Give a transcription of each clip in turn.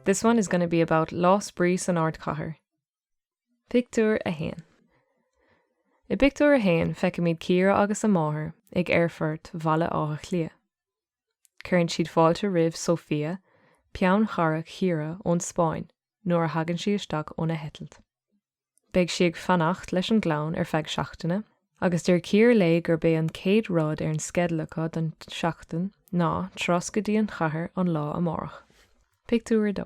This one is going to be about Lá Spraoi san Ardchathair. Pictiúr 1 I bpictiúr 1 feicimid Ciara agus a máthair ag Aerfort Bhaile Átha Cliath. Cuireann siad fáilte roimh Sofia, peannchara Chiara ón Spáinn, nuair a thagann sí isteach óna heitilt. Beidh sí ag fanacht leis an gclann ar feadh seachtaine agus deir Ciara léi gurb é an chéad rud ar an sceideal acu don seachtain ná turas go dtí an chathair an lá amárach. Pictiúr 2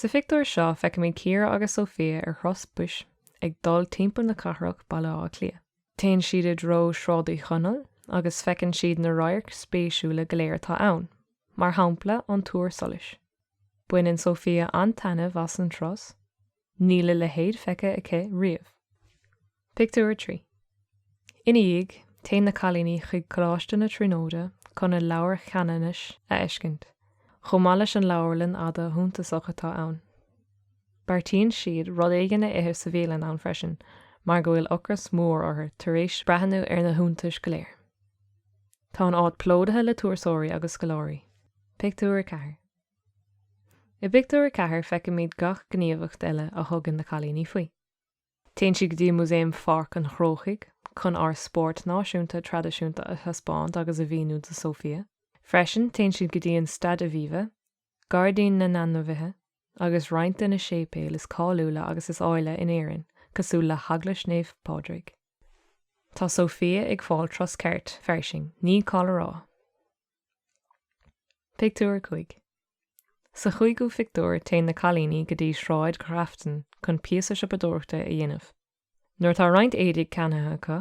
Sa phictiúr seo feicimid Ciara agus Sofia ar thuras bus ag dul timpeall na cathrach, Baile Átha Cliath. Téann siad i dtreo Sráid Uí Chonaill agus feiceann siad na radhairc spéisiúla go léir atá ann, mar shampla an Túr Solais. Baineann Sofia an-taitneamh as an turas, níl a leithéid feicthe aici riamh. Pictiúr 3 Ina dhiaidh, téann na cailíní chuig Coláiste na Tríonóide chun a Leabhar Cheanannais a fheiscint, chomh maith leis an leabharlann fhada shuntasach atá ann. Beartaíonn siad rud éigin a ithe sa bhialann ann freisin mar go bhfuil ocras mór orthu tar éis breathnú ar na hiontais go léir. Tá an áit plódaithe le turasóirí agus scoláirí. Pictiúr 4. I bpictiúr 4 feicimid gach gníomhacht eile a thugann na cailíní faoi. Téann siad go dtí Músaem Pháirc an Chrócaigh chun ár spórt náisiúnta traidisiúnta a thaispeáint agus a mhíniú do Sofia. Freisin, téann siad go dtí an Staid Aviva, Gairdín na nAinmhithe agus roinnt de na séipéil is cáiliúla agus is áille in Éirinn cosúil le hEaglais Naomh Pádraig. Tá Sofia ag fáil turas ceart fairsing, ní call a rá! Pictiúr 5 Sa chúigiú phictiúr téann na cailíní go dtí Sráid Ghrafton chun píosa siopadóireachta a dhéanamh. Nuair atá roinnt éadaigh ceannaithe acu,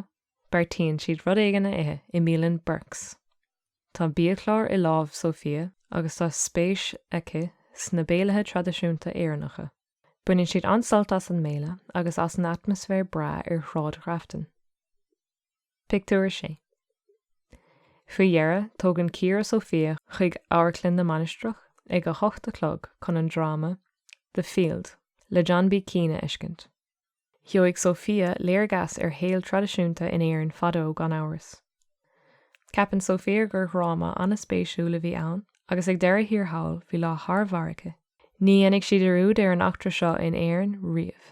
beartaíonn siad rud éigin a ithe i mbialann Burke's. Tá biachlár i lámh Sofia agus tá spéis aici sna béilithe traidisiúnta Éireannacha. Baineann siad an-sult as an mbéile agus as an atmaisféar breá ar Shráid Ghrafton. Pictiúr 6 Faoi dheireadh, tógann Ciara Sofia chuig Amharclann na Mainistreach ag a hocht a chlog chun an dráma The Field le John B Keane a fheiscint. Gheobhaidh Sofia léargas ar shaol traidisiúnta in Éirinn fadó gan amhras. Ceapann Sofia gur dhráma an-spéisiúil a bhí ann agus ag deireadh thiar thall bhí lá thar barr aici. Ní dhéanfaidh sí dearúd ar an eachtra seo in Éirinn riamh.